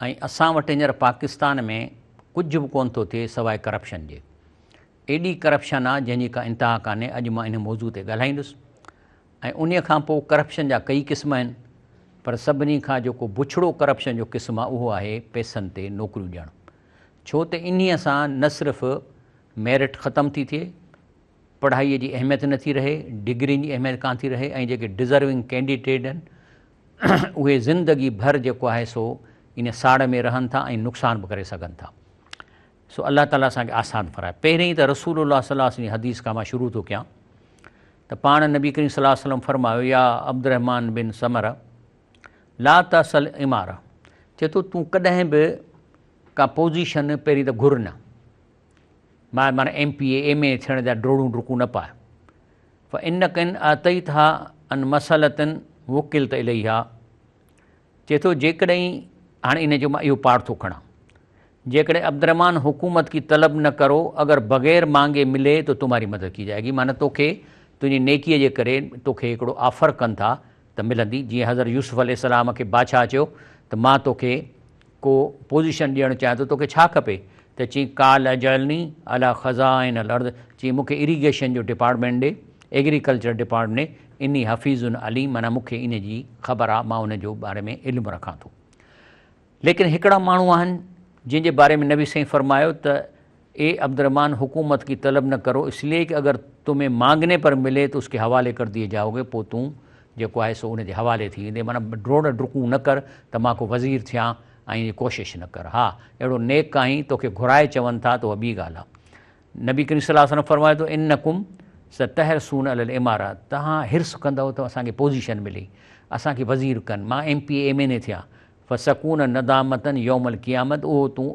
۽ اسان وٽ هينئر پاڪستان ۾ ڪجهه به ڪونه ٿو ٿئي سواء ڪرپشن جي. ايڏي ڪرپشن آ جنهن جي ڪا انتها ڪانهي اڄ مان انهي موضوع تي ڳالهائيندس ۽ انهي کان پوء ڪرپشن جا ڪئي قسم آهن پر سڀني کان جيڪو بڇڙو ڪرپشن جو قسم آ اهو آهي پئسن تي نوڪريون ڏيڻ ڇو ته انهي سان نه صرف ميرٽ ختم ٿي ٿئي پڙهائي جي اهميت نه ٿي رهي ڊگرين جي اهميت ڪانه ٿي رهي ۽ جيڪي ڊزرونگ ڪينڊيٽيڊ آهن اهي زندگي ڀر جيڪو آهي سو ان ساڙ ۾ رهن ٿا ۽ نقصان به ڪري سگهن ٿا. سو الله تعاليٰ اسان کي آسان فرمائي. پهرين ته رسول الله صلي الله عليه وسلم جي حديث کان مان شروع ٿو ڪيان ته پاڻ نبي ڪريم صلي الله عليه وسلم فرمايو يا عبدالرحمان بن سمر لا تسل عمار چي ٿو تون ڪڏهن به ڪا پوزيشن پهرين ته گهر نه ماء ماڻ M P A M A ٿيڻ جا ڊوڙون ڊڪون نه پاء فانڪ ان اعطيتها ان مسئلة وڪلت اليها چئي ٿو جيڪڏهن هاڻي ان جو مان اهو پاڙ ٿو کڻان جيڪڏهن عبدالرحمان حڪومت ڪي طلب نه ڪرو اگر بغير مانگي ملي تو تمهاري مدد ڪي جائي گي معنيٰ توکي تنهنجي نيڪيء جي ڪري توکي هڪڙو آفر ڪن ٿا ته ملندي جيئن حضرت يوسف عليه السلام کي بادشاهه چيو ته مان توکي ڪو پوزيشن ڏيڻ چاهين ٿو توکي ڇا کپي ته چين قال اجعلني علي خزائن الارض چين مون کي اريگيشن جو ڊپارٽمينٽ ڏي ايگريڪلچر ڊپارٽمينٽ ڏي اني حفيظ عليم معنيٰ مون کي ان جي خبر آ مان ان جو باري ۾ علم رکان ٿو ليڪن هڪڙا ماڻهو آهن جن جي باري ۾ نبي سائين فرمايو ته اي عبدالرحمان حڪومت ڪي طلب نه ڪرو اس لئي ڪي اگر تمھين مانگني پر ملي تو اس ڪي حوالي ڪر ديئي جائو گي پو تون جيڪو آھي سو ان جي حوالي ٿي ويندي معنيٰ ڊوڙ ڊڪون نه ڪر ته مان ڪو وزير ٿيان ائين جي ڪوشش نه ڪر ھا اھڙو نيڪ آھين توکي گھرائي چون ٿا ته اھا ٻي ڳالھ آ نبي ڪريم صلي الله عليه وسلم فرمايو ته انڪم ستحرصون علي الاماره توھان حرص ڪندؤ ته اسان کي پوزيشن ملي اسان کي وزير ڪن مان M P M N A ٿيان فسکون ندامة يوم القيامة اهو تون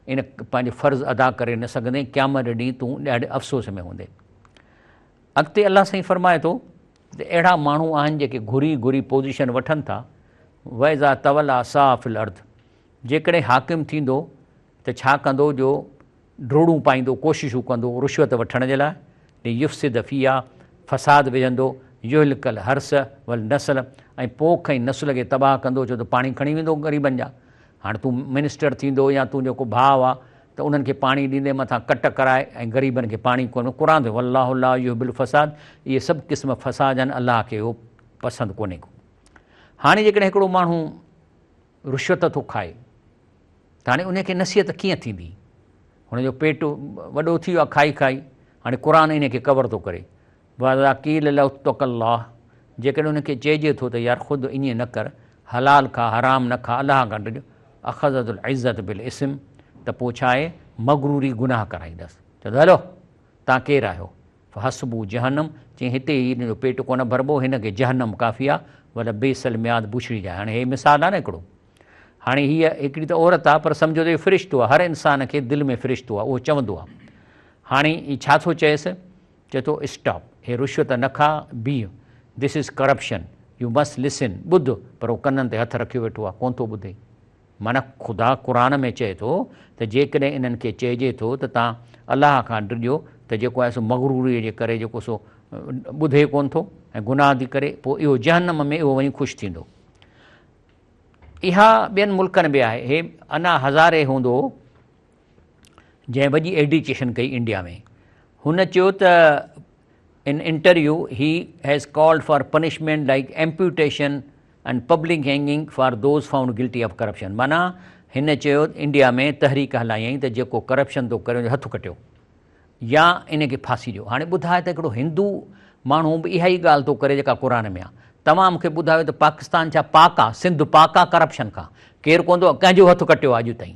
ان پنهنجو فرض ادا ڪري نه سگهندين قيامت جي ڏينهن تون ڏاڍي افسوس ۾ هوندين اڳتي الله سائين فرمائي ٿو ته اهڙا ماڻهو آهن جيڪي گهري گهري پوزيشن وٺن ٿا ويزا تولا صاف الارض جيڪڏهن حاڪم ٿيندو ته ڇا ڪندو جو ڊوڙون پائيندو، ڪوششون ڪندو رشوت وٺڻ جي لاء، ليفسد فيها، فساد وجهندو، يهلڪ الحرث والنسل ۽ پوک ۽ نسل کي تباهه ڪندو ڇو ته پاڻي کڻي ويندو غريبن جا. هاڻ تون منسٽر ٿيندو يا تنهنجو ڪو ڀاء آ ته انهن کي پاڻي ڏيندين مٿان ڪٽ ڪرائي ۽ غريبن کي پاڻي ڪونه قرآن ٿيو والله لا يحب الفساد اهي سڀ قسم فساد آهن الله کي اهو پسند ڪونهي ڪو هاڻي جيڪڏهن هڪڙو ماڻهو رشوت ٿو کائي ته هاڻي ان کي نصيحت ڪيئن ٿيندي؟ هن جو پيٽ وڏو ٿي ويو آهي کائي کائي، هاڻي قرآن ان کي ڪور ٿو ڪري. واذا قيل له اتق الله جيڪڏهن ان کي چئجي ٿو ته يار خود ائين نه ڪر، حلال کاء حرام نه کاء الله کان ڊڄ، اخذته العزة بالاسم ته پوء ڇا آهي مغروري گناهه ڪرائيندس، چوندو هلو تان ڪير آهيو فحسبوه جهنم، چيائين هتي هي هن جو پيٽ ڪونه ڀربو، هن کي جهنم ڪافي آ، ولبئس المهاد بوشري جاء هاڻي هي مثال آ نه هڪڙو. هاڻي هيء هڪڙي ته عورت آ پر سمجهو ته اهو فرشتو آ، هر انسان کي دل ۾ فرشتو آ، اهو چوندو آ. هاڻي هي ڇا ٿو چئيس؟ چئي ٿو اسٽاپ، هي رشوت نه کاء، بيهه، This is Corruption، you must listen, ٻڌ، پر هو ڪنن تي هٿ رکيو ويٺو آ، ڪونه ٿو ٻڌي. معنيٰ، خدا قرآن ۾ چئي ٿو ته جيڪڏهن انهن کي چئجي ٿو ته توهان الله کان ڊڄو ته جيڪو آهي سو مغروريء جي ڪري جيڪو سو ٻڌي ڪونه ٿو ۽ گناهه ٿي ڪري پوء اهو جهنم ۾ اهو وڃي خوش ٿيندو. اها ٻين ملڪن به آهي. هي انا هزاري هوندو. جنهن وڏي ايڊيوڪيشن ڪئي انڊيا ۾. هن چيو ته in interview he has called for punishment like amputation and public hanging for those found guilty of corruption معنيٰ هن چيو انڊيا ۾ تحريڪ هلايائين ته جيڪو ڪرپشن ٿو ڪري ان جو هٿ ڪٽيو يا ان کي ڦاسي ڏيو. هاڻي ٻڌاء ته هڪڙو هندو ماڻهو به اها ئي ڳالهه ٿو ڪري جيڪا قرآن ۾ آ. توهان مون کي ٻڌايو ته پاڪستان ڇا پاڪ آ، سنڌ پاڪ آ ڪرپشن کان؟ ڪير ڪونه ٿو ڪنهن جو هٿ ڪٽيو آ اڄ تائين؟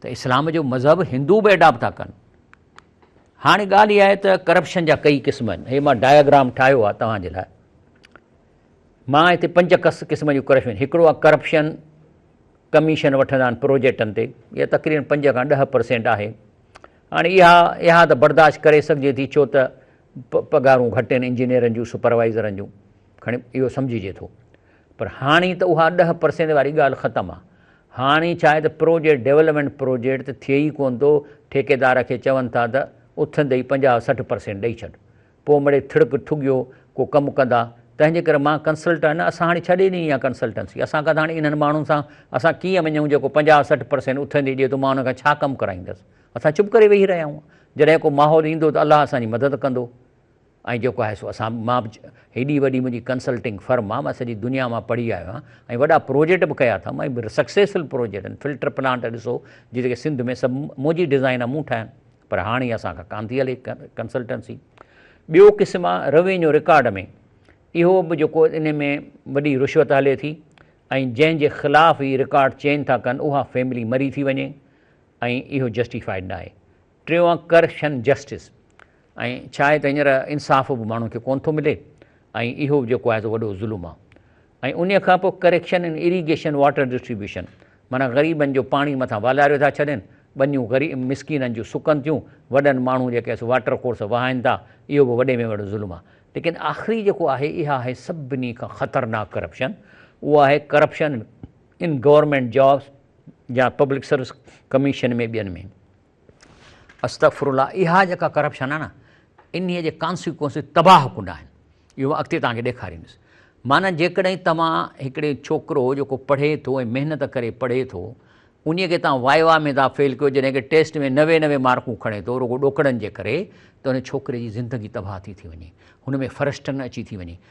ته اسلام جو مذهب هندو به اڊاپٽ ٿا ڪن. هاڻي ڳالهه اها آهي ته ڪرپشن جا ڪئي قسم آهن. هي مان ڊائگرام ٺاهيو آهي توهان جي لاء. مان هتي پنج ڪس قسم جون ڪرپشن هڪڙو آهي ڪرپشن ڪميشن وٺندا آهن پروجيڪٽن تي اها تقريبن پنج کان ڏهه پرسينٽ آهي هاڻي اها اها ته برداشت ڪري سگهجي ٿي ڇو ته پگهارون گهٽ آهن انجنيئرن جون سپروائزرن جون کڻي اهو سمجهجي ٿو پر هاڻي ته اها ڏهه پرسينٽ واري ڳالهه ختم آهي هاڻي ڇا آهي ته پروجيڪٽ ڊيولپمينٽ پروجيڪٽ ته ٿئي ئي ڪونه ٿو، ٺيڪيدار کي چون ٿا ته اٿندي ئي پنجاهه سٺ پرسينٽ ڏئي ڇڏ، پوء مڙئي ٿڙڪ ٺڳيو ڪو ڪم ڪندا، تنهنجي ڪري مان ڪنسلٽنٽ نه اسان هاڻي ڇڏي ڏني آهي ڪنسلٽنسي، اسان کان ته هاڻي انهن ماڻهن سان اسان ڪيئن وڃون جيڪو پنجاهه سٺ پرسينٽ اٿندي ڏئي ٿو مان ان کان ڇا ڪم ڪرائيندس، اسان چپ ڪري ويهي رهيا آهيون، جڏهن ڪو ماحول ايندو ته الله اسان جي مدد ڪندو. ۽ جيڪو آهي سو اسان مان به هيڏي وڏي منهنجي ڪنسلٽنگ فرم آهي مان سڄي دنيا مان پڙهي آيو آهيان ۽ وڏا پروجيٽ به ڪيا اٿم ۽ سڪسيسفل پروجيٽ آهن فلٽر پلانٽ ڏسو جيڪي سنڌ ۾ سڀ منهنجي ڊزائن آهي مون ٺاهيا پر هاڻي اسان کان ڪانه ٿي هلي ڪنسلٽنسي ٻيو قسم آهي روينيو رڪارڊ ۾ اهو به جيڪو ان ۾ وڏي رشوت هلي ٿي ۽ جنهن جي خلاف هي رڪارڊ چينج ٿا ڪن اها فيملي مري ٿي وڃي ۽ اهو جسٽيفائيڊ ناهي ٽيون آهي ڪرشن جسٽس ۽ ڇا آهي ته هينئر انصاف به ماڻهن کي ڪونه ٿو ملي ۽ اهو به جيڪو آهي سو وڏو ظلم آهي ۽ انهي کان پوء correction in irrigation water distribution معنيٰ غريبن جو پاڻي مٿان والاريو ٿا ڇڏين ٻنيون غريب مسڪينن جون سڪن ٿيون وڏن ماڻهون جيڪي آهي سو واٽر ڪورس وهائن ٿا اهو به وڏي ۾ وڏو ظلم آهي ليڪن آخري جيڪو آهي اها آهي سڀني کان خطرناڪ ڪرپشن اهو آهي ڪرپشن ان گورنمينٽ جابس يا پبلڪ سروس ڪميشن ۾ ٻين ۾ استغفر الله اها جيڪا ڪرپشن آهي نه انهي جي ڪانسيڪوئنسز تباهه ڪن آهن اهو مان اڳتي توهان کي ڏيکاريندس معنيٰ جيڪڏهن توهان هڪڙي ڇوڪرو جيڪو پڙهي ٿو ۽ محنت ڪري پڙهي ٿو انهي کي توهان واء واء ۾ ٿا فيل ڪيو جڏهن ڪي ٽيسٽ ۾ نوي نوي مارڪون کڻي ٿو رڳو ڏوڪڙن جي ڪري ته ان ڇوڪري جي زندگي تباهه ٿي ٿي وڃي هن ۾ فرسٽن اچي ٿي وڃي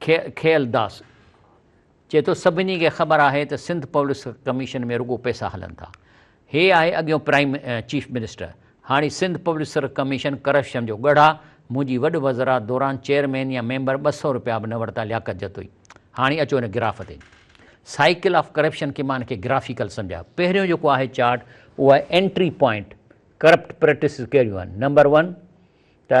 کيئل داس چئي ٿو سڀني کي خبر آهي ته سنڌ پوليس ڪميشن ۾ رڳو پئسا هلن ٿا. هي آهي اڳيون پرائيم چيف منسٽر. هاڻي سنڌ پوليس ڪميشن ڪرپشن جو ڳڙهه آ. منهنجي وڏ وزرات دوران چيئرمين يا ميمبر ٻه سؤ روپيا به نه ورتا لياقت جتوئي. هاڻي اچو هن گراف تي. سائيڪل آف ڪرپشن کي مان کي گرافيڪل سمجهايو. پهريون جيڪو آهي چارٽ اهو آهي انٽري پوائنٽ ڪرپٽ پريٽسز ڪهڙيون آهن. نمبر ون ته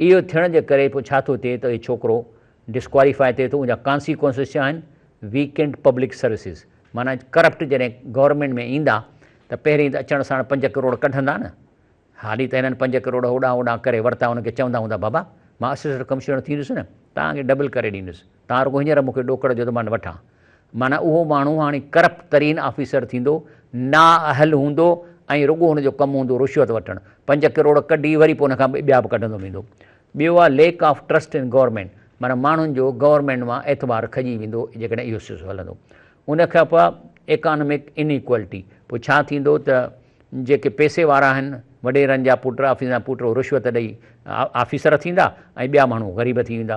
اهو ٿيڻ جي ڪري پوء ڇا ٿو ٿئي ته اهي ڇوڪرو ڊسڪواليفاء ٿئي ٿو ان جا ڪانسيڪوئنسز ڇا آهن ويڪنڊ پبلڪ سروسز معنيٰ ڪرپٽ جڏهن گورنمينٽ ۾ ايندا ته پهرين ته اچڻ ساڻ پنج ڪروڙ ڪڍندا نه هالي ته هنن پنج ڪروڙ هوڏانهن هوڏانهن ڪري ورتا هن کي چوندا هوندا بابا مان اسسٽنٽ ڪمشنر ٿيندس نه توهان کي ڊبل ڪري ڏيندس تان رڳو هينئر مون کي ڏوڪڙ جو ته مان وٺان. معنيٰ اهو ماڻهو هاڻي ڪرپٽ ترين آفيسر ٿيندو، نااهل هوندو ۽ رڳو هن جو ڪم هوندو رشوت وٺڻ. پنج ڪروڙ ڪڍي وري پوء ان کان ٻيا به ڪڍندو ويندو. ٻيو آ lack of trust in government معنيٰ ماڻهن جو گورنمينٽ مان اعتبار کڄي ويندو جيڪڏهن اهو سلسلو هلندو. ان کان پوء ايڪانمڪ ان ايڪوالٽي پوء ڇا ٿيندو ته جيڪي پئسي وارا آهن وڏيرن جا پٽ آفيسرن جا پٽ اهي رشوت ڏئي آفيسر ٿيندا ۽ ٻيا ماڻهو غريب ٿي ويندا.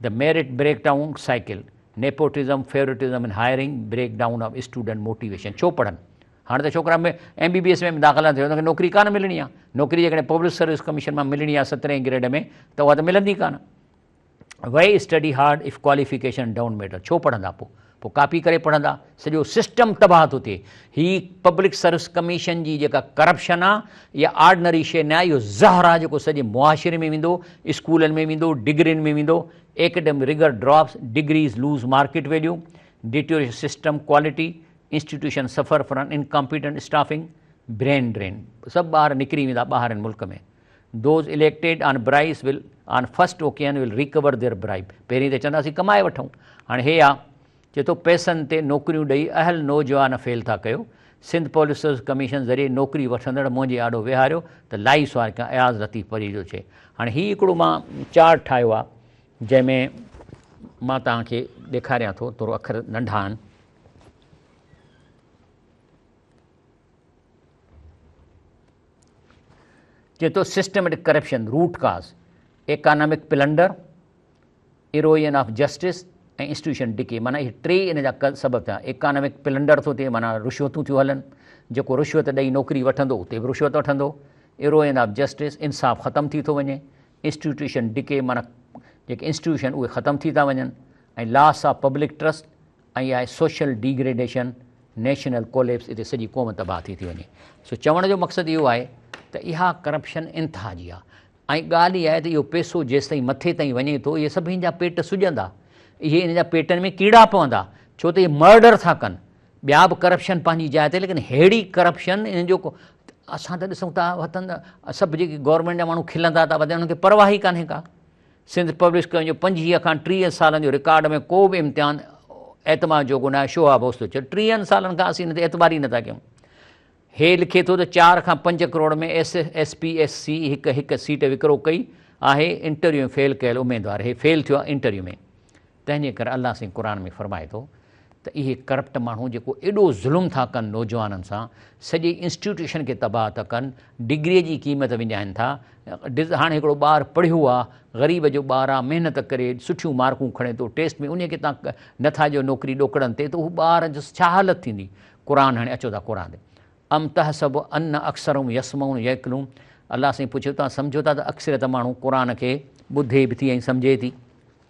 The Merit Breakdown Cycle، Nepotism، Favoritism in Hiring، Break Down of Student Motivation ڇو پڙهن؟ هاڻي ته ڇوڪرا ۾ ايم بي بي ايس ۾ به داخلا ٿيو انهن کي نوڪري ڪانه ملڻي آهي نوڪري جيڪڏهن پبلڪ سروس ڪميشن مان ملڻي آهي سترهين گريڊ ۾ ته اها ته ملندي ڪانه why study hard if qualification don't matter ڇو پڙهندا پوء پوء ڪاپي ڪري پڙهندا، سڄو سسٽم تباهه ٿو ٿئي. هي پبلڪ سروس ڪميشن جي جيڪا ڪرپشن آ اها آرڊنري شيء نه آ، اهو زهر آ جيڪو سڄي معاشري ۾ ويندو، اسڪولن ۾ ويندو، ڊگرين ۾ ويندو، academic rigour drops, degrees lose market value, deterioration system quality, institution suffer from incompetent staffing, brain drain سڀ ٻار نڪري ويندا ٻاهرين ملڪ ۾. Those elected on bribes will on first occasion will recover their bribe. پهرين ته چوندا اسين ڪمائي وٺون. هاڻي هي آ. چئي ٿو پئسن تي نوڪريون ڏئي اهل نوجوان فيل ٿا ڪيو. سنڌ پوليس سروس ڪميشن ذريعي نوڪري وٺندڙ منهنجي آڏو ويهاريو ته لائي سوار ڪيان اياز لطيف پري جو چئي. هاڻي هي هڪڙو مان چارٽ ٺاهيو آ جنهن ۾ مان توهان کي ڏيکاريان ٿو ٿورو اکر ننڍا آهن. چئي ٿو systematic corruption, root cause, economic plunder, erosion of justice ۽ institution decay معنيٰ اهي ٽي ان جا سبب ٿيا. ايڪانامڪ پلنڊر ٿو ٿئي معنيٰ رشوتون ٿيون هلن، جيڪو رشوت ڏئي نوڪري وٺندو اتي به رشوت وٺندو، ايروئن آف جسٽس انصاف ختم ٿي ٿو وڃي، انسٽيٽيوشن ڊڪي معنيٰ جيڪي انسٽيٽيوشن اهي ختم ٿي ٿا وڃن ۽ لاس آف پبلڪ ٽرسٽ ائين آهي social degradation, national collapse اتي سڄي قوم تباهه ٿي ٿي وڃي. سو چوڻ جو مقصد اهو آهي ته اها ڪرپشن انتها جي آهي ۽ ڳالهه اها آهي ته اهو پيسو جيستائين مٿي تائين وڃي ٿو اهي سڀ ان جا پيٽ سڄندا اهي ان جا پيٽن ۾ ڪيڙا پوندا ڇو ته اهي مرڊر ٿا ڪن ٻيا به ڪرپشن پنهنجي جاء تي ليڪن ههڙي ڪرپشن ان جو اسان ته ڏسون ٿا وطن سڀ جيڪي گورنمينٽ جا ماڻهو کلندا ٿا وڌن انهن کي پرواهي ڪانهي ڪا سنڌ پبلش ڪيو جو پنجويهه کان ٽيهه سالن جو رڪارڊ ۾ ڪو به امتحان اعتماد جوڳو ناهي، شهاب هوس ٿو چئي، ٽيهن سالن کان اسين هن تي اعتبار ئي نٿا ڪيون. هي لکي ٿو ته چار کان پنج crore ۾ S S P S C هڪ هڪ سيٽ وڪرو ڪئي آهي، انٽرويو ۾ فيل ڪيل اميدوار هي فيل ٿيو آهي انٽرويو ۾. تنهنجي ڪري الله سائين قرآن ۾ فرمائي ٿو ته اهي ڪرپٽ ماڻهو جيڪو ايڏو ظلم ٿا ڪن نوجوانن سان سڄي انسٽيٽيوشن کي تباهه ٿا ڪن ڊگري جي قيمت وڃائين ٿا هاڻي هڪڙو ٻار پڙهيو آ غريب جو ٻار آ محنت ڪري سٺيون مارڪون کڻي ٿو ٽيسٽ ۾ انهي کي تان نٿا جو نوڪري ڏوڪڙن تي ته هو ٻار جو ڇا حالت ٿيندي قرآن هاڻي اچو ٿا قرآن تي ام تحسب ان اڪثرهم يسمعون يعقلون الله سائين پڇيو تان سمجهو ٿا ته اڪثريت ماڻهو قرآن کي ٻڌي به ٿي ۽ سمجهي ٿي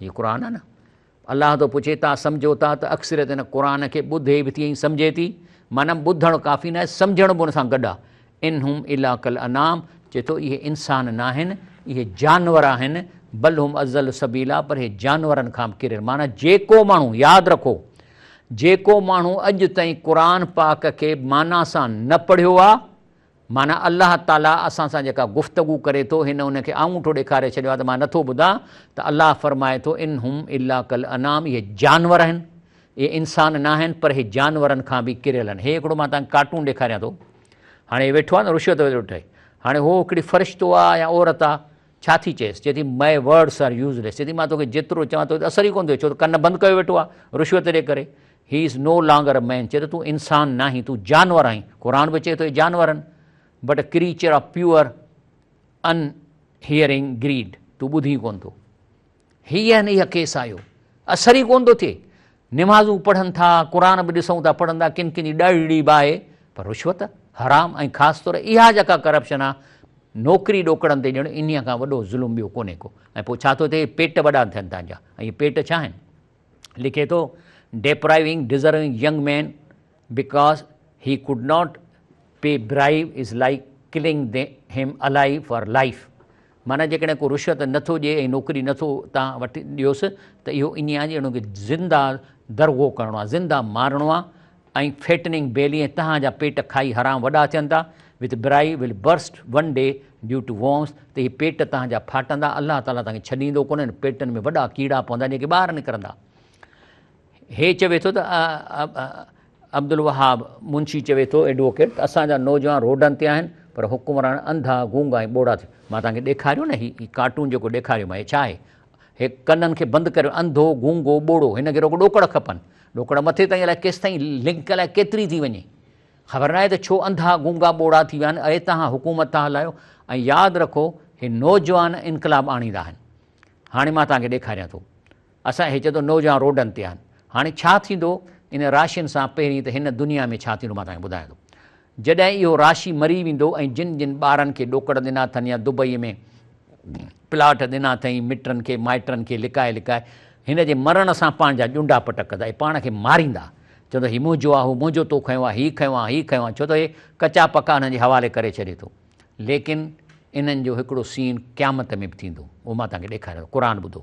هي قرآن آهي نه الله ٿو پڇي تان سمجهو ٿا ته اڪثريت هن قرآن کي ٻڌي به ٿي ۽ سمجهي ٿي معنی ٻڌڻ ڪافي نه آهي سمجهڻ به ان سان گڏ آهي ان هم الا کل انام چئي ٿو اهي انسان نه آهن اهي جانور آهن بل هم ازل سبيلا پر اهي جانورن کان به ڪري معنی جيڪو ماڻهو ياد رکو جيڪو ماڻهو اڄ تائين قرآن پاڪ کي معنی سان نه پڙهيو آهي معنيٰ الله تعاليٰ اسان سان جيڪا گفتگو ڪري ٿو، هن ان کي آڱوٺو ڏيکاري ڇڏيو آهي ته مان نٿو ٻڌان ته الله فرمائي ٿو، ان هم الا کالانعام اهي جانور آهن، اهي انسان نه آهن پر اهي جانورن کان به ڪريل آهن. هي هڪڙو مان توهان کي ڪارٽون ڏيکاريان ٿو. هاڻي هي ويٺو آهي نه رشوت وٺي. هاڻي هو هڪڙي فرشتو آهي يا عورت آهي. ڇا ٿي چئيس؟ چئي ٿي my words are useless. چئي ٿي مان توکي جيترو چوان تو تي اثر ئي ڪونه ٿو ٿئي ڇو ته ڪن بند ڪيو ويٺو آهي رشوت جي ڪري. He is no longer a man. چئي ٿو تون انسان ناهين تون جانور آهين. قرآن به چئي ٿو اي جانورن but a creature of pure inherent greed. تون ٻڌين ڪونه ٿو. هي ۽ اها ڪيس آيو اثر ئي ڪونه ٿو ٿئي نمازون پڙهن ٿا قرآن به ڏسون ٿا پڙهن ٿا ڪن ڪن جي ڏڙڙي به آهي پر رشوت حرام ۽ خاص طور اها جيڪا ڪرپشن آ نوڪري ڏوڪڙن تي ڄڻ انهيء کان وڏو ظلم ٻيو ڪونهي ڪو ۽ پوء ڇا ٿو ٿئي پيٽ وڏا ٿين ٿا جا ۽ اهي پيٽ ڇا آهن لکي ٿو depriving deserving young men because he could not be برائيو is like killing him alive for life معنيٰ جيڪڏهن ڪو رشوت نه ٿو ڏئي ۽ نوڪري نه ٿو تان وٺي ڏيوس ته اهو ائين آهي ڄڻ ان کي زنده درغو ڪرڻو آهي، زنده مارڻو آهي ۽ Fattening Belly ۽ تهان جا پيٽ کائي حرام وڏا ٿين ٿا With Brai will burst one day due to worms ته اهي پيٽ تهان جا ڦاٽندا الله تعاليٰ توهان کي ڇڏيندو ڪونه انهن پيٽن ۾ وڏا ڪيڙا پوندا جيڪي ٻاهر نڪرندا. هي چوي ٿو ته عبدالوهاب منشي چوي ٿو ايڊووڪيٽ ته اسان جا نوجوان روڊن تي آهن پر حڪمران انڌا، گونگا ۽ ٻوڙا ٿي مان توهان کي ڏيکاريو نه هي هي ڪارٽون جيڪو ڏيکاريو مان هي ڇا آهي؟ هي ڪنن کي بند ڪريو انڌو، گونگو، ٻوڙو هن کي رڳو ڏوڪڙ کپن ڏوڪڙ مٿي تائين الائي ڪيستائين لنڪ الائي ڪيتري ٿي وڃي خبر ناهي ته ڇو انڌا، گونگا، ٻوڙا ٿي ويا آهن اهي توهان حڪومت ٿا هلايو ۽ ياد رکو هي نوجوان انقلاب آڻيندا آهن هاڻي مان توهان کي ڏيکاريان ٿو. اسان هي چيو ته نوجوان روڊن تي آهن. هاڻي ڇا ٿيندو ان راشين سان پهرين ته هن دنيا ۾ ڇا ٿيندو مان توهان کي ٻڌايان ٿو. جڏهن اهو راشي مري ويندو ۽ جن جن ٻارن کي ڏوڪڙ ڏنا اٿن يا دبئي ۾ پلاٽ ڏنا اٿئين مٽن کي مائٽن کي لڪائي لڪائي هن جي مرڻ سان پنهنجا ڄونڊا پٽ ڪندا اهي پاڻ کي ماريندا چوندا هي منهنجو آهي هو منهنجو تو کنيو آهي هي کنيو آهي هي کنيو آهي ڇو ته هي ڪچا پڪا انهن جي حوالي ڪري ڇڏي ٿو ليڪن انهن جو هڪڙو سين قيامت ۾ به ٿيندو اهو مان توهان کي ڏيکاريان ٿو قرآن ٻڌو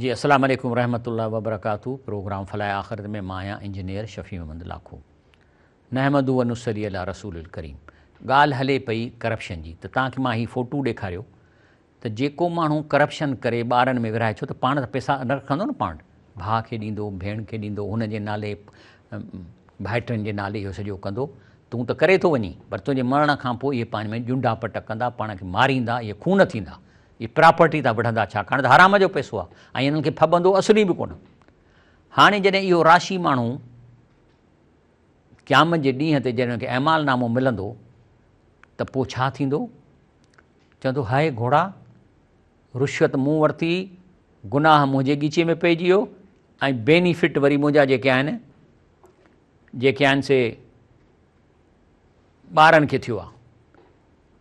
جي السلام عليڪم ورحمة الله وبرڪاته پروگرام فلاح آخرت ۾ مان آهيان انجنيئر شفيع محمد لاکو نحمد و نصلي علي رسول الڪريم ڳالهه هلي پئي ڪرپشن جي ته توهان کي مان هي فوٽو ڏيکاريو ته جيڪو ماڻهو ڪرپشن ڪري ٻارن ۾ ورهائي ڇو ته پاڻ ته پيسا نه رکندو نه پاڻ ڀاء کي ڏيندو، ڀيڻ کي ڏيندو، هن جي نالي ڀائٽن جي نالي اهو سڄو ڪندو. تون ته ڪري ٿو وڃين، پر تنهنجي مرڻ کان پوء اهي پاڻ ۾ ڄنڊا پٽ ڪندا، پاڻ کي ماريندا، اهي خون ٿيندا، اهي پراپرٽي تان وڙهندا، ڇاڪاڻ ته حرام جو پئسو آهي ۽ انهن کي ڦٻندو اصلي به ڪونه. هاڻي جڏهن اهو راشي ماڻهو قيامت جي ڏينهن تي جڏهن ان کي اعمال نامو ملندو ته پوء ڇا ٿيندو؟ چوندو، هاء گهوڙا! رشوت مون ورتي، گناهه منهنجي ڳچيء ۾ پئجي ويو ۽ بينيفٽ وري منهنجا جيڪي آهن، جيڪي آهن سي ٻارن کي ٿيو آهي.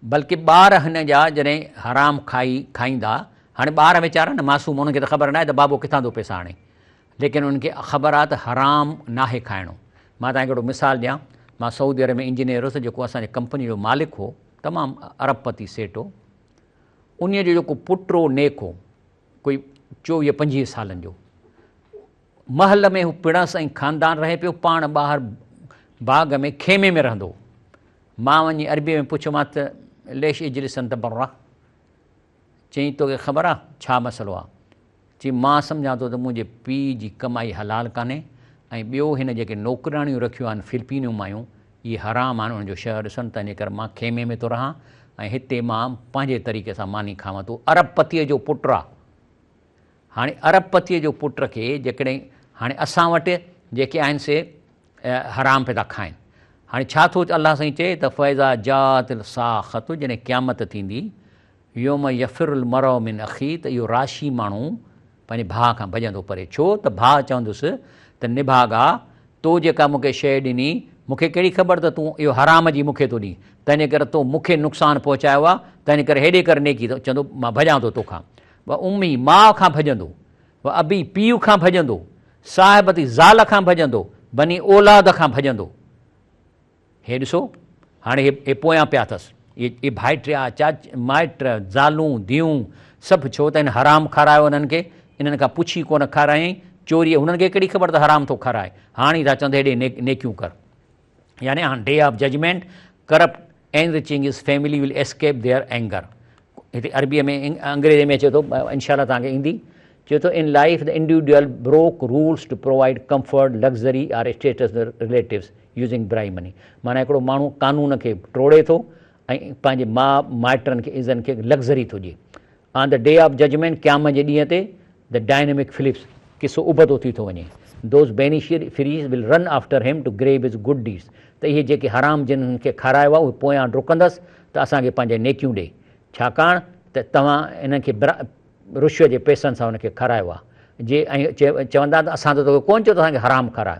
بلڪه ٻار هن جا جڏهن حرام کائي کائيندا، هاڻي ٻار ويچارا نه معصوم انهن کي ته خبر ناهي ته بابو ڪٿان ٿو پئسا آڻي، ليڪن انهن کي خبر آهي ته حرام ناهي کائڻو. مان توهان کي هڪڙو مثال ڏيان، مان سعودي عرب ۾ انجنيئر هوس جيڪو اسان جي ڪمپني جو مالڪ هو، تمام ارب پتي سيٽ هو، انهيء جو جيڪو پٽ هو نيڪ هو، ڪوئي چوويهه پنجويهه سالن جو. محل ۾ هو پڻس ۽ خاندان رهي پيو، پاڻ ٻاهر باغ ۾ خيمي ۾ رهندو هو. مان وڃي عربيء ۾ پڇيومانس ته ليش اجلس انت برا؟ چيائين توکي خبر آ ڇا مسئلو آ؟ چي مان سمجهان ٿو ته منهنجي پيء جي ڪمائي حلال ڪانهي ۽ ٻيو هن جيڪي نوڪرياڻيون رکيون آهن فلپينيون مايون اهي حرام آهن انهن جو شهه ڏسن تنهنجي ڪري مان خيمي ۾ ٿو رهان ۽ هتي مان پنهنجي طريقي سان ماني کاوان تون ارب پتيء جو پٽ آ هاڻي ارب پتيء جو پٽ کي جيڪڏهن هاڻي اسان وٽ جيڪي آهن سي حرام پي ٿا کائن هاڻي ڇا ٿو الله سائين چئي ته فيضا جات الساخت جڏهن قيامت ٿيندي يوم يفر المرء من اخيه ته اهو راشي ماڻهو پنهنجي ڀاء کان ڀڄندو پري ڇو ته ڀاء چوندس ته نڀاڳا تو جيڪا مون کي شيء ڏني مون کي ڪهڙي خبر ته تون اهو حرام جي مون کي ٿو ڏين تنهنجي ڪري تو مون کي نقصان پهچايو آهي تنهنجي ڪري هيڏي ڪر نيڪي ته چوندو مان ڀڄان ٿو توکان و امي ماء کان ڀڄندو و ابي پيء کان ڀڄندو صاحبتي زال کان ڀڄندو بني اولاد کان ڀڄندو هي ڏسو، هاڻي هي هي پويان پيا اٿس. اهي ڀائٽيا، چاچ، مائٽ، زالون، ڌيئون، سڀ ڇو ته هن حرام کارايو انهن کي، انهن کان پڇي ڪونه کارايائين، چوريء انهن کي ڪهڙي خبر ته حرام ٿو کارائي، هاڻ ئي ٿا چون ته هيڏي نيڪ نيڪيون ڪر. يعني on day of judgement, corrupt enriching his family will escape their anger. هتي عربيء ۾ انگريزيء ۾ اچي ٿو، انشاء الله توهان کي ايندي، چئي ٿو in life the individual broke rules to provide comfort, luxury or status ته رليٽوز. يوزنگ برائي مني معنيٰ هڪڙو ماڻهو قانون کي ٽوڙي ٿو ۽ پنهنجي ماء مائٽن کي عزن کي لگزري ٿو ڏئي on the day of judgement قيام جي ڏينهن تي دي ڊائنمڪ فلپس قصو ابتو ٿي ٿو وڃي those beneficiaries will run after him to grab his good deeds ته اهي جيڪي حرام جن هن کي کارايو آهي اهي پويان ڊڪندس ته اسان کي پنهنجي نيڪيون ڏي ڇاڪاڻ ته توهان هن کي رشوت جي پئسن سان هن کي کارايو آهي جي ۽ چوندا ته اسان ته توکي ڪونه چيو ته اسان کي حرام کاراء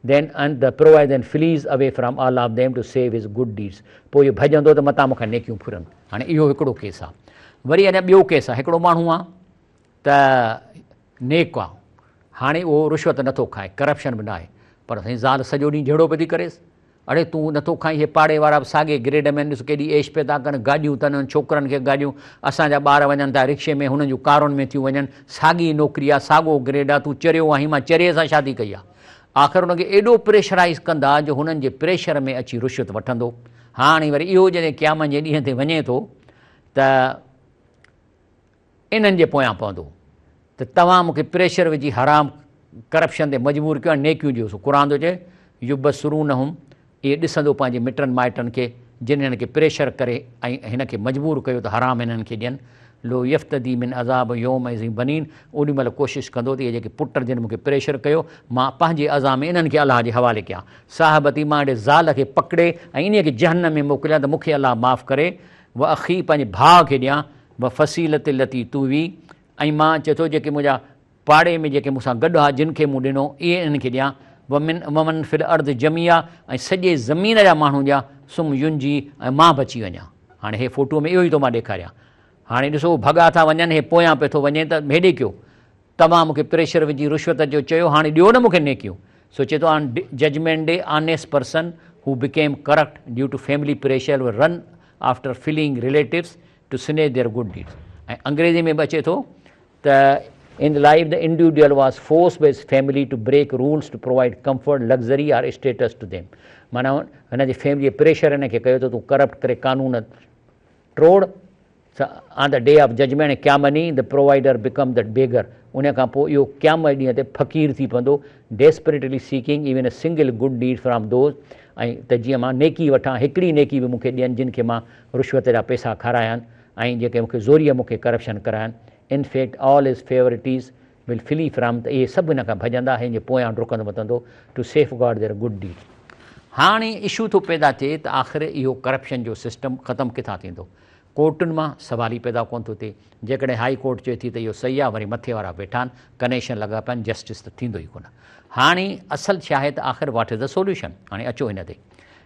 Then and the provides and flees away from all of them to save his good deeds. پوء اهو ڀڄندو ته متان مون کان نيڪيون ڦرن. هاڻي اهو هڪڙو ڪيس آهي. وري اڃا ٻيو ڪيس آهي. هڪڙو ماڻهو آهي ته نيڪ آهي. هاڻي اهو رشوت نٿو کائي، ڪرپشن به ناهي. پر سائين زال سڄو ڏينهن جهيڙو پئي ٿي ڪريس. اڙي تون نٿو کائين، هي پاڙي وارا به ساڳئي گريڊ ۾ آهن، ڏس ڪيڏي عيش پئي ٿا ڪن، گاڏيون اٿن انهن ڇوڪرن کي گاڏيون، اسان جا ٻار وڃن ٿا رڪشي ۾ هنن جون ڪارن ۾ ٿيون وڃن، ساڳي نوڪري آهي، ساڳئو گريڊ آهي، تون چريو آهين، مان چريي سان شادي ڪئي آهي. آخر هن کي ايڏو پريشرائيز ڪندا جو هنن جي پريشر ۾ اچي رشوت وٺندو. هاڻي وري اهو جڏهن قيامن جي ڏينهن تي وڃي ٿو ته انهن جي پويان پوندو ته توهان مون کي پريشر وجهي حرام ڪرپشن تي مجبور ڪيو ۽ نيڪيون ڏيو سو قرآن ٿو چئي يبصرونهم اهي ڏسندو پنهنجي مٽن مائٽن کي جن هن کي پريشر ڪري ۽ هن کي مجبور ڪيو ته حرام هنن کي ڏين لو يفتدي من عذاب يومئذ بنين اوڏي مهل ڪوشش ڪندو ته اهي جيڪي پٽ جن مون کي پريشر ڪيو مان پنهنجي عزا ۾ انهن کي الله جي حوالي ڪيان صاحبتي مان اهڙي زال کي پڪڙي ۽ انهي کي جهنم ۾ موڪليان ته مون کي الله معاف ڪري واخي پنهنجي ڀاء کي ڏيان وفصيلتي التي توي ۽ مان چئي ٿو جيڪي منهنجا پاڙي ۾ جيڪي مون سان گڏ ھئا جن کي مون ڏنو اھي انھن کي ڏيان، ومن ومن في الارض جميعا ۽ سڄي زمين جا ماڻھو ڏيان ثم ينجي ۽ مان بچي وڃان. ھاڻي ھي فوٽوء ۾ اھو ئي ٿو مان ڏيکاريان. ھاڻي ڏسو ھو ڀڳا ٿا وڃن ھي پويان پئي ٿو وڃي ته ھيڏي ڪيو. توھان مون کي پريشر وجھي رشوت جو چيو ھاڻي ڏيو نه مون کي نيڪيون. سو چئي ٿو on judgement day honest person who became corrupt due to family pressure will run after fleeing relatives to snatch their good deeds ۽ انگريزي ۾ به اچي ٿو ته in life the individual was forced by his family to break rules to provide comfort luxury or status to them معنيٰ هن جي family جي pressure هن کي ڪيو ته تون ڪرپٽ ڪري قانون ٽوڙ on the day of judgement ۽ ڪيا money the provider become the beggar ان کان پوء اهو قيام جي ڏينهن تي فقير ٿي پوندو desperately seeking even a single good deed from those ۽ ته جيئن مان نيڪي وٺان هڪڙي نيڪي به مون کي ڏين جن کي مان رشوت جا پيسا کارايان ۽ جيڪي مون کي زوريء مون کي ڪرپشن ڪرائن، in fact all his favourites will flee from ته اهي سڀ هن کان ڀڄندا هن جي پويان ڊڪندو متندو to safeguard their good deed. هاڻي اشو ٿو پيدا ٿئي ته آخر اهو ڪرپشن جو سسٽم ختم ڪٿان ٿيندو؟ ڪورٽن مان سوال ئي پيدا ڪونه ٿو ٿئي. جيڪڏهن هائي ڪورٽ چئي ٿي ته اهو صحيح آهي وري مٿي وارا ويٺا آهن ڪنيشن لڳا پيا آهن جسٽس ته ٿيندو ئي ڪونه. هاڻي اصل ڇا آهي ته آخر واٽ از دي سوليوشن؟ هاڻي اچو هن تي.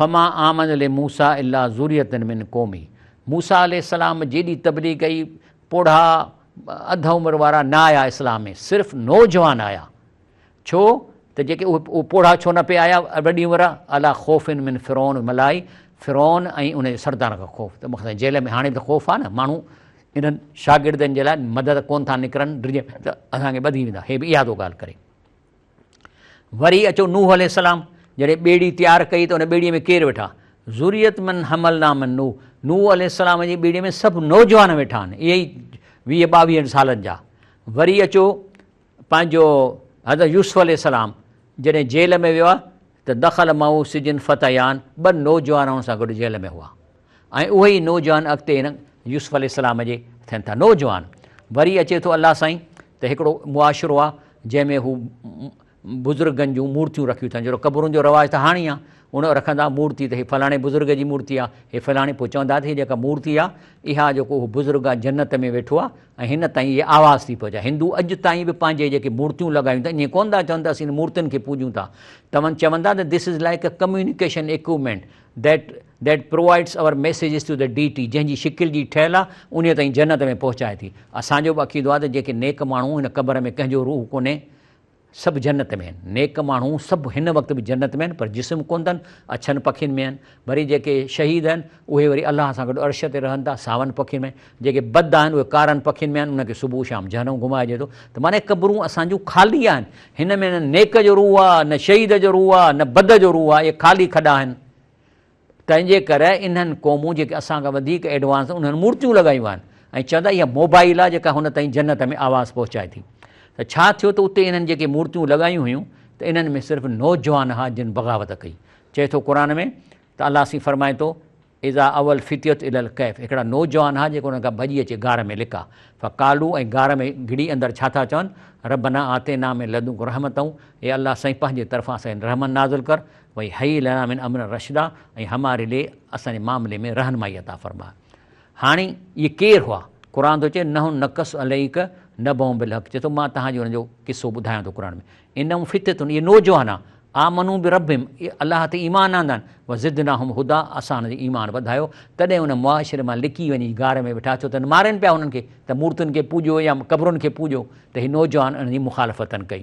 فما آمن لموسي الا ذرية من قومه موسيٰ عليه السلام جيڏي تبليغ ڪئي پوڙها اڌ عمر وارا نه آيا اسلام ۾ صرف نوجوان آيا ڇو ته جيڪي اهي پوڙها ڇو نه پئي آيا وڏي عمر الا خوف من فرعون وملائه فرعون ۽ ان جي سردارن کان خوف ته مخصوص جيل ۾ هاڻي به ته خوف آ نه ماڻهو انهن شاگردن جي لاء مدد ڪون ٿا نڪرن ڊڄن ته اسان کي ٻڌي ويندا هي به اها ٿو ڳالهه ڪري. وري اچو نوح عليه السلام جڏهن ٻيڙي تيار ڪئي ته ان ٻيڙي ۾ ڪير ويٺا؟ ذريت من حملنا من نوح نوح عليه السلام جي ٻيڙي ۾ سڀ نوجوان ويٺا آهن اهي ئي ويهه ٻاويهن سالن جا وري اچو پنهنجو حضرت يوسف عليه السلام جڏهن جيل ۾ ويو آهي ته دخل معه سجن فتيان ٻه نوجوان هن سان گڏ جيل ۾ هئا ۽ اهي ئي نوجوان اڳتي هن يوسف عليه السلام جي ٿين ٿا نوجوان. وري اچي ٿو الله سائين ته هڪڙو معاشرو آ جنهن ۾ هو بزرگن جون مورتيون رکيون ٿا جهڙو قبرن جو رواج ته هاڻي آ ان رکندا مورتي ته هي فلاڻي بزرگ جي مورتي آ هي فلاڻي پوء چوندا ته هي جيڪا مورتي آ اها جيڪو اهو بزرگ آ جنت ۾ ويٺو آ ۽ هن تائين اهي آواز ٿي پهچائي هندو اڄ تائين به پنهنجي جيڪي مورتيون لڳايون ٿا ائين ڪونه ٿا چون ته اسين مورتين کي پوڄون ٿا تمن چوندا ته this is like a communication equipment that That provides our messages to the Deity، جنهن جي شڪل جي ٺهيل آهي، انهيء تائين جنت ۾ پهچائي ٿي. اسان جو به عقيدو آهي ته جيڪي نيڪ ماڻهو هن قبر ۾ ڪنهن جو روح ڪونهي، سڀ جنت ۾ آهن. نيڪ ماڻهو سڀ هن وقت به جنت ۾ آهن، پر جسم ڪونه اٿن، اڇن پکين ۾ آهن. وري جيڪي شهيد آهن، اهي وري الله سان گڏ عرش تي رهن ٿا، ساون پکين ۾. جيڪي بد آهن، اهي ڪارن پکين ۾ آهن، انهن کي صبح شام جهنم گهمائجي ٿو. ته معنيٰ قبرون اسان جون خالي آهن. هن ۾ نه نيڪ جو روح آهي، نه شهيد جو روح آهي، نه بد جو روح آهي. اهي خالي کڏا آهن. تنهنجي ڪري انهن قومون جيڪي اسان کان وڌيڪ ايڊوانس انهن مورتيون لڳايون آهن ۽ چون ٿا اها موبائل آهي جيڪا هن تائين جنت ۾ آواز پهچائي ٿي ته ڇا ٿيو ته اتي انهن جيڪي مورتيون لڳايون هيون ته انهن ۾ صرف نوجوان ها جن بغاوت ڪئي چئي ٿو قرآن ۾ ته الله سين فرمائي ٿو اذا اول فتيت ال القيف هڪڙا نوجوان ها جيڪو انهن کان ڀڄي اچي غار ۾ لڪا فقالو ۽ غار ۾ گھڙي اندر ڇا ٿا چون ربنا آتينا ۾ لدنڪ رحمتون اي الله سائين پنهنجي طرفان سائين رحمن نازل ڪر وهيئي لنا من امرنا رشدا ۽ هماري لئي اسان جي معاملي ۾ رهنمائي عطا فرماء. هاڻي اهي ڪير هئا؟ قرآن ٿو چئي، نحن نقص عليک نبأهم بالحق چئي ٿو مان توهان جي انهن جو قصو ٻڌايان ٿو قرآن ۾ انهم فتية اهي نوجوان هئا آمنوا بربهم اهي الله تي ايمان آندا آهن وزدناهم هديٰ اسان انهن جو ايمان وڌايو تڏهن ان معاشري مان لڪي وڃي غار ۾ ويٺا ڇو ته مارين پيا انهن کي ته مورتين کي پوڄو يا قبرن کي پوڄو ته اهي نوجوان انهن جي مخالفتن ڪئي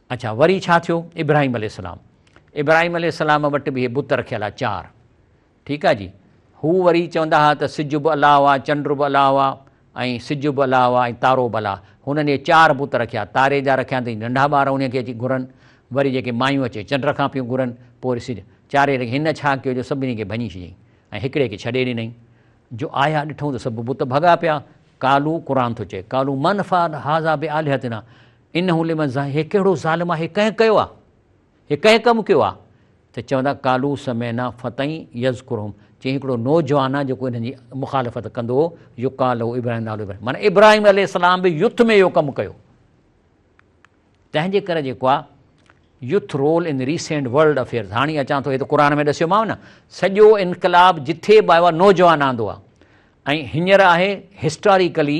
اڇا وري ڇا ٿيو ابراهيم عليه السلام ابراهيم عليه السلام وٽ به اهي بت رکيل آ چار ٺيڪ آ جي هو وري چوندا ها ته سج به الله آ چنڊ به الله آ ۽ سج به الله آ ۽ تارو به الله هنن اهي چار بت رکيا تاري جا رکيا ته ننڍا ٻار انهي کي اچي گهرن وري جيڪي مايون اچي چنڊ کان پيون گهرن پوء وري سج چاري رکي هن ڇا ڪيو جو سڀني کي ڀڃي ڇڏيائين ۽ هڪڙي کي ڇڏي ڏنائين جو آيا ڏٺون ته سڀ بت ڀڳا پيا قالو قرآن ٿو چئي قالو من فعل هذا بالهتنا انه لمن ظا هي ڪهڙو ظالم آهي ڪنهن ڪيو آ هي ڪنهن ڪم ڪيو آ ته چوندا قالو سمعنا فتئي يذڪرهم چيائين هڪڙو نوجوان آ جيڪو انهن جي مخالفت ڪندو هو يقال له ابراهيم نالو ابراهيم معنيٰ ابراهيم عليه السلام به يوٿ ۾ اهو ڪم ڪيو تنهن جي ڪري جيڪو آ youth role in recent world affairs هاڻي اچان ٿو هي ته قرآن ۾ ڏسيو ماو نه سڄو انقلاب جٿي به آيو آ نوجوان آندو آ ۽ هينئر آهي هسٽاريڪلي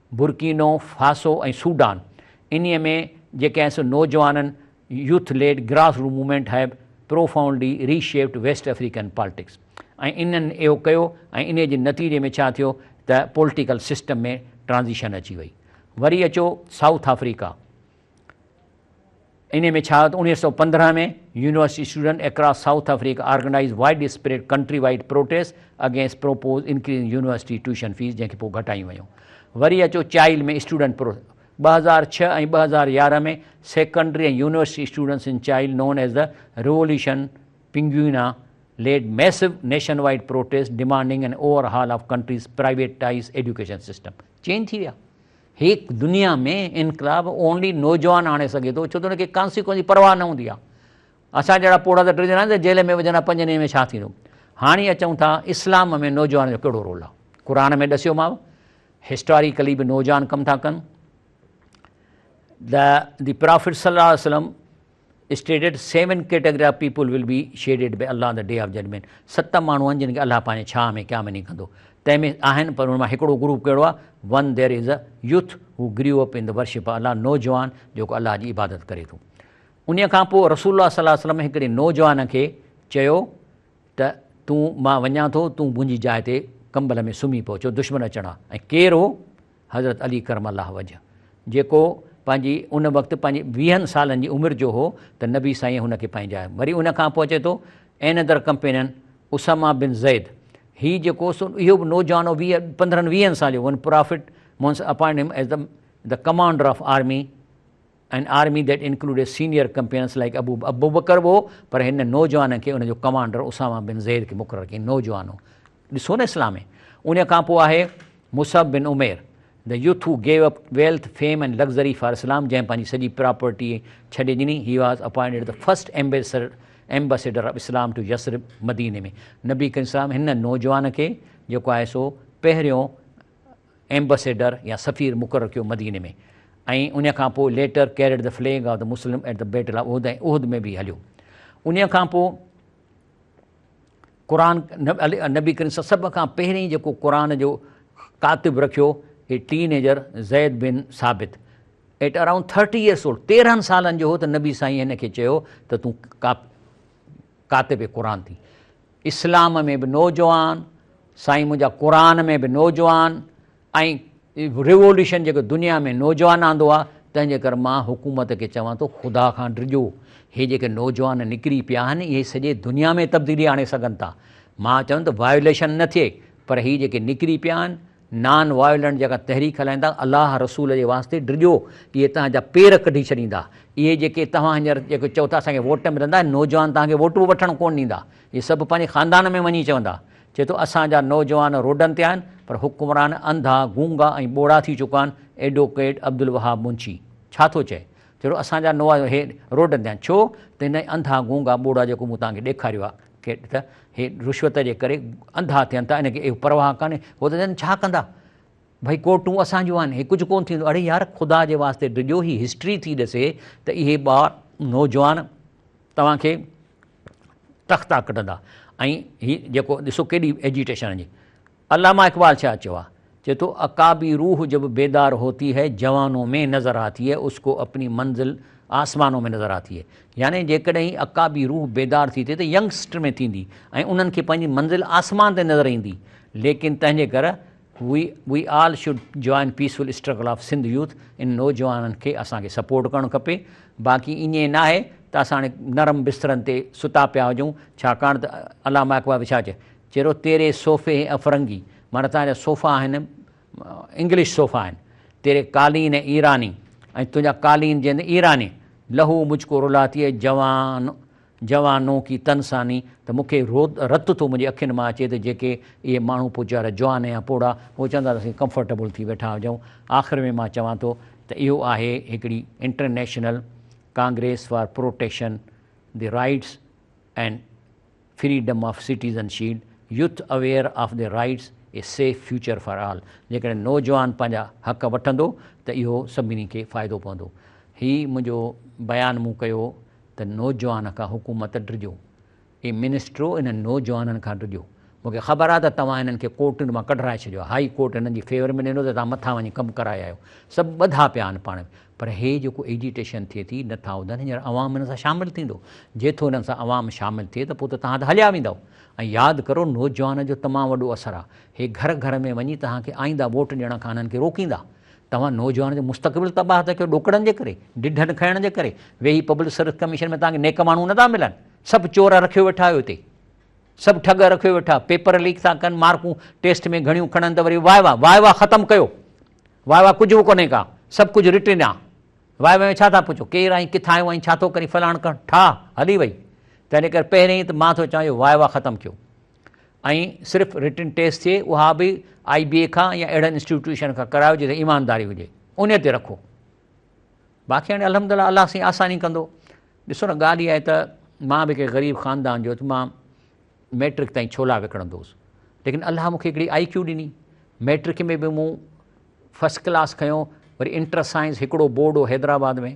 برڪينو فاسو ۽ سوڊان انهي ۾ جيڪي آهن سو نوجوانن youth led grass root movement have profoundly reshaped West African politics ۽ انهن اهو ڪيو ۽ انهي جي نتيجي ۾ ڇا ٿيو ته پولٽيڪل سسٽم ۾ ٽرانزيشن اچي وئي وري اچو سائوٿ آفريڪا انهيء ۾ ڇا ته اڻويهه سؤ پندرهن ۾ university student across South Africa organise widespread countrywide protest against propose increasing university tuition fees جنهن کي پوء گهٽايون ويون وري اچو چائل ۾ اسٽوڊنٽ پرو ٻه هزار ڇهه ۽ ٻه هزار يارهن ۾ secondary ۽ university students in Chile known as the revolution Pinguina led massive nationwide protest demanding an overhaul of country's privatise education system change ٿي ويا هيء دنيا ۾ انقلاب اونلي نوجوان آڻي سگهي ٿو ڇو ته ان کي ڪانسيڪوئنس جي پرواهه نه هوندي آهي. اسان جهڙا پوڙها ته ٽي ڄڻا جيل ۾ وجهندا پنج ڏينهن ۾ ڇا ٿيندو. هاڻي اچون ٿا اسلام ۾ نوجوان جو ڪهڙو رول آهي. قرآن ۾ ڏسيوماء هسٽاريڪلي به نوجوان ڪم ٿا ڪن. The Prophet صلي الله عليه وسلم Stated Seven category of people will be shaded by Allah on the Day of Judgment ست ماڻهو آهن جن کي الله پنهنجي ڇانهه ۾ قيام ڏينهن ڪندو تنهن ۾ آهن پر ان مان هڪڙو گروپ ڪهڙو آهي One there is a youth who grew up in the worship of Allah نوجوان جيڪو الله جي عبادت ڪري ٿو انهيء کان پوء رسول الله صلي الله عليه وسلم هڪڙي نوجوان کي چيو ته تون مان وڃان ٿو تون منهنجي جاء تي ڪمبل ۾ سمهي پئو ڇو دشمن اچڻا ۽ ڪير هو حضرت علي ڪرم الله وجهه جيڪو پنهنجي ان وقت پنهنجي ويهن سالن جي عمر جو هو ته نبي سائينء هن کي پنهنجا وري ان کان پوء اچي ٿو اينئدر ڪمپينن اسامه بن زيد هي جيڪو سو اهو به نوجوان هو ويهه پندرهن ويهن سال جو one prophet months appoint him as the commander of army in army that included senior companions like Abu Abu Bakr وو پر هن نوجوان کي ان جو ڪمانڊر اسامه بن زيد کي مقرر ڪيائين نوجوان هو ڏسو نه اسلام ۾ ان کان پوء آهي مصعب بن Umair The youth who gave up wealth, fame and luxury for Islam جنهن پنهنجي سڄي پراپرٽي ڇڏي ڏني He was appointed the first ambassador Ambassador of Islam to Yasrib مديني ۾ نبي ڪريم صلي الله عليه وسلم هن نوجوان کي جيڪو آهي سو پهريون ايمبسيڊر يا سفير مقرر ڪيو مديني ۾ ۽ انهيء کان پوء later carried the flag of the Muslim at the battle of Uhud ۽ احد ۾ به هليو انهيء کان پوء قرآن نبي ڪريم صلي سڀ کان پهرين جيڪو قرآن جو ڪاتب رکيو a teenager Zaid bin Thabit at around thirty years old تيرهن سالن جو هو ته نبي سائين هن کي چيو ته تون ڪاپ ڪاتب قرآن ٿي اسلام ۾ به نوجوان سائين منهنجا قرآن ۾ به نوجوان ۽ ريولوشن جيڪو دنيا ۾ نوجوان آندو آ تنهن جي ڪري مان حڪومت کي چوان ٿو خدا کان ڊڄو هي جيڪي نوجوان نڪري پيا آهن اهي سڄي دنيا ۾ تبديلي آڻي سگهن ٿا مان چوندو وائوليشن نه ٿئي پر هي جيڪي نڪري پيا آهن نان وائلنٽ جيڪا تحريڪ هلائيندا الله رسول جي واسطي ڊڄو اهي توهان جا پير ڪڍي ڇڏيندا اهي جيڪي توهان هينئر جيڪي چئو ٿا اسان کي ووٽ ملندا اهي نوجوان توهان کي ووٽ به وٺڻ ڪونه ڏيندا اهي سڀ پنهنجي خاندان ۾ وڃي چوندا چئي ٿو اسان جا نوجوان روڊن تي آهن پر حڪمران انڌا گونگا ۽ ٻوڙا ٿي چڪا آهن ايڊوڪيٽ عبدالوهاب منشي ڇا ٿو چئي چئي ٿو اسان جا نوجوان روڊن تي آهن ڇو ته هن انڌا گونگا ٻوڙا جيڪو مون توهان کي ڏيکاريو آهي کي ته هي رشوت جي ڪري انڌا ٿين ٿا، هن کي اهو پرواهه ڪانهي، هو ته چون ڇا ڪندا، ڀئي ڪورٽون اسان جون آهن، هي ڪجهه ڪونه ٿيندو، اڙي يار خدا جي واسطي ڊڄو، هي هسٽري ٿي ڏسي ته اهي ٻار نوجوان توهان کي تختا ڪڍندا ۽ هي جيڪو ڏسو ڪيڏي ايجيٽيشن جي علامه اقبال ڇا چيو آهي؟ چئي ٿو، عقابي روح جب بيدار هوتي هي جوانو مين نظر آتي هي اس ڪو اپني منزل آسمانو مين نظر آتي هي يعني جيڪڏهن عقابي روح بيدار ٿي ٿئي ته ينگ سٽر ۾ ٿيندي ۽ انهن کي پنهنجي منزل آسمان تي نظر ايندي ليڪن تنهنجي ڪر we we all should join peaceful struggle of Sindh youth ان نوجوانن کي اسان کي سپورٽ ڪرڻ کپي باقي ايئن ناهي ته اسان هاڻي نرم بسترن تي ستا پيا هجون ڇاڪاڻ ته علامه اقبال به ڇا چئي چرو تيري صوفي هي افرنگي، معنيٰ تان جا صوفا آهن انگلش صوفا آهن، تيري قالين هي ايراني، ۽ تنهنجا قالين جي اندر ايراني، لهو مجھ ڪو رلاتی هي جوان جوانون ڪي تن ساني، ته مون کي رت ٿو منهنجي اکين مان اچي ته جيڪي اهي ماڻهو پوء ويچارا جوان يا پوڙها هو چون ٿا ته اسين ڪمفرٽيبل ٿي ويٺا هجون، آخر ۾ مان چوان ٿو ته اهو آهي هڪڙي international congress for protection the rights and freedom of citizen shield, youth aware of their rights, a safe future for all, جيڪڏهن نوجوان پنهنجا حق وٺندو ته اهو سڀني کي فائدو پوندو. هي منهنجو بيان مون ڪيو ته نوجوان کان حڪومت ڊڄو. اي منسٽرو انهن نوجوانن کان ڊڄو. مون کي خبر آهي ته توهان هنن کي ڪورٽن مان ڪڍرائي ڇڏيو آهي. هائي ڪورٽ هنن جي فيور ۾ ڏنو ته توهان مٿان وڃي ڪم ڪرائي آيو. سڀ ٻڌا پيا آهن پاڻ ۾. پر هي جيڪو ايجيٽيشن ٿئي ٿي نه ٿا ٻڌن هينئر عوام هن سان شامل ٿيندو جي ٿو هنن سان عوام شامل ٿئي ته پوء ته توهان ته هليا ويندؤ ۽ ياد ڪرو نوجوانن جو تمام وڏو اثر آ هي گهر گهر ۾ وڃي توهان کي آئينده ووٽ ڏيڻ کان هنن کي روڪيندا توهان نوجوانن جو مستقبل تباهه ٿا ڪيو ڏوڪڙن جي ڪري ڊڍن کئڻ جي ڪري ويهي پبلڪ سروس ڪميشن ۾ توهان کي نيڪ ماڻهو نه ٿا ملن سڀ چور رکيو ويٺا آهيو هتي سڀ ٺڳ رکيو ويٺا پيپر ليڪ ٿا ڪن مارڪون ٽيسٽ ۾ گهڻيون کڻن ته وري واء واء واء واء ختم ڪيو واء واء ڪجهه به ڪونهي ڪا سڀ ڪجهه رٽن آ واء واء ۾ ڇا ٿا پڇو ڪير آهين ڪٿان آيو آهين ڇا ٿو ڪرين فلاڻ ڪرڻ ٺاهه هلي وئي تنهن ڪري پهرين ته مان ٿو چوان جو واء واء ختم ڪيو ۽ صرف رٽن ٽيسٽ ٿئي اها به آئي بي اي کان يا اهڙن انسٽيٽيوشن کان ڪرايو جتي ايمانداري هجي ان تي رکو باقي هاڻي الحمد لله الله سائين آساني ڪندو ڏسو نه ڳالهه اها آهي ته مان به ڪنهن غريب خاندان جو ته مان ميٽرڪ تائين ڇولا وڪڻندو هوس ليڪن الله مونکي هڪڙي آئي ڪيو ڏني ميٽرڪ ۾ به مون فرسٽ ڪلاس کنيو وري انٽر سائنس هڪڙو بورڊ هو حيدرآباد ۾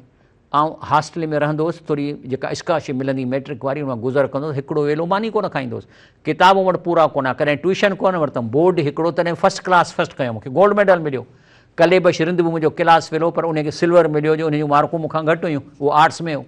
آئون هاسٽل ۾ رهندو هوس ٿوري جيڪا اسڪالرشپ ملندي ميٽرڪ واري ان گذر ڪندو هوس هڪڙو ويلو ماني ڪونه کائيندو هوس ڪتابون وٽ پورا ڪونه ڪڏهن ٽيوشن ڪونه ورتم بورڊ هڪڙو تڏهن فرسٽ ڪلاس فرسٽ ڪيو مونکي گولڊ ميڊل مليو ڪلي بش رند به منهنجو ڪلاس فيلو پر ان کي سلور مليو جو ان جون مارڪون مون کان گهٽ هيون اهو آرٽس ۾ هو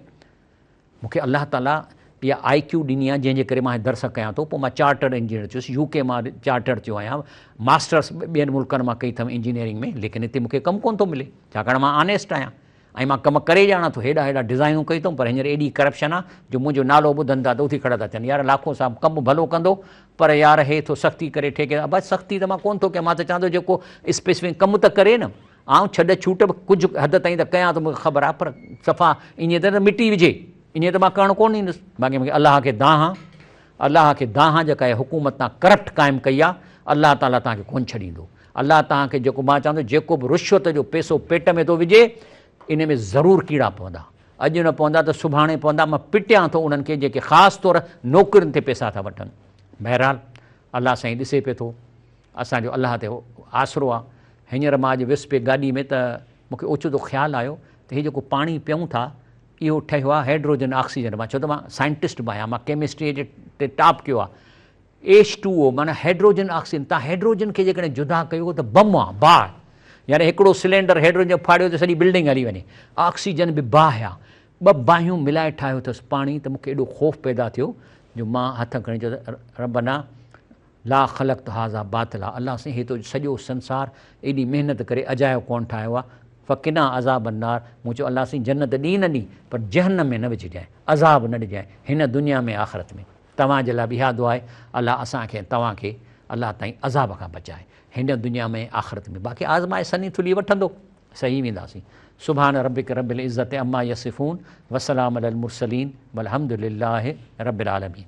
مون کي الله تعاليٰ اها آء ڪيو ڏني آهي جنهن جي ڪري مان هي درس ڪيان ٿو پوء مان چارٽر انجنيئر ٿيس يو ڪي مان چارٽر ٿيو آهيان ماسٽرس ٻين ملڪن مان ڪئي اٿم انجنيئرنگ ۾ ليڪن هتي مون کي ڪم ڪونه ٿو ملي ڇاڪاڻ مان آنيسٽ آهيان ۽ مان ڪم ڪري ڄاڻان ٿو هيڏا هيڏا ڊزائنون ڪيون اٿم پر هينئر ايڏي ڪرپشن آ جو منهنجو نالو ٻڌن ٿا ته اٿي کڙا ٿا ٿين يار لاکو صاحب ڪم به ڀلو ڪندو پر يار هي ٿو سختي ڪري ٺيڪيدار ابا سختي ته مان ڪون ٿو ڪيان مان ته چوان ٿو جيڪو اسپيسفڪ ڪم ته ڪري نه آئون ڇڏ ڇوٽ به ڪجهه حد تائين ته ڪيان ٿو مون کي خبر آ پر صفا ايئن ته نه مٽي وجهي ايئن ته مان ڪرڻ ڪون ڏيندس باقي مون کي الله کي دانهان الله کي دانهان جيڪا هي حڪومت تان ڪرپٽ قائم ڪئي آ الله تعاليٰ توهان کي ڪون ڇڏيندو. الله توهان کي جيڪو مان چوان ٿو جيڪو به رشوت جو پيسو پيٽ ۾ ٿو وجهي ان ۾ ضرور ڪيڙا پوندا اڄ نه پوندا ته سڀاڻي پوندا مان پٽيان ٿو انهن کي جيڪي خاص طور نوڪرين تي پيسا ٿا وٺن بهرحال الله سائين ڏسي پئي ٿو اسان جو الله تي آسرو آ هينئر مان اڄ ويس پئي گاڏي ۾ ته مونکي اوچتو خيال آيو ته هي جيڪو پاڻي پيئون ٿا اهو ٺهيو آ هيڊروجن آڪسيجن مان ڇو ته مان سائنٽسٽ به آهيان مان ڪيمسٽري جي ٽاپ ڪيو آ ايڇ ٽو او معنيٰ هئڊروجن آڪسيجن تان هئڊروجن کي جيڪڏهن جدا ڪيو ته بم آ، باهه، يعني هڪڙو سلينڊر هئڊروجن جو ڦاڙيو ته سڄي بلڊنگ هلي وڃي. آڪسيجن به باهه آ. ٻه باهيون ملائي ٺاهيو ٿس پاڻي ته مون کي ايڏو خوف پيدا ٿيو جو مان هٿ کڻي چيو ته ربنا لا خلقت هذا باطلا الله سائين هي تو سڄو سنسار ايڏي محنت ڪري اجايو ڪونه ٺاهيو آ فقنا عذاب النار مون چيو الله سائين جنت ڏي نه ڏي پر جهنم ۾ نه وجهجانء عذاب نه ڏجانء هن دنيا ۾ آخرت ۾. توهان جي لاء به اها دعا آهي الله اسان کي ۽ توهان کي الله تائين عذاب کان بچائي هن دنيا ۾ ۽ آخرت ۾ باقي آزمائش سني ٿلهي وٺندو سهي وينداسين سبحان ربک رب العزت عما يصفون وسلام علي المرسلين والحمد لله رب العالمين.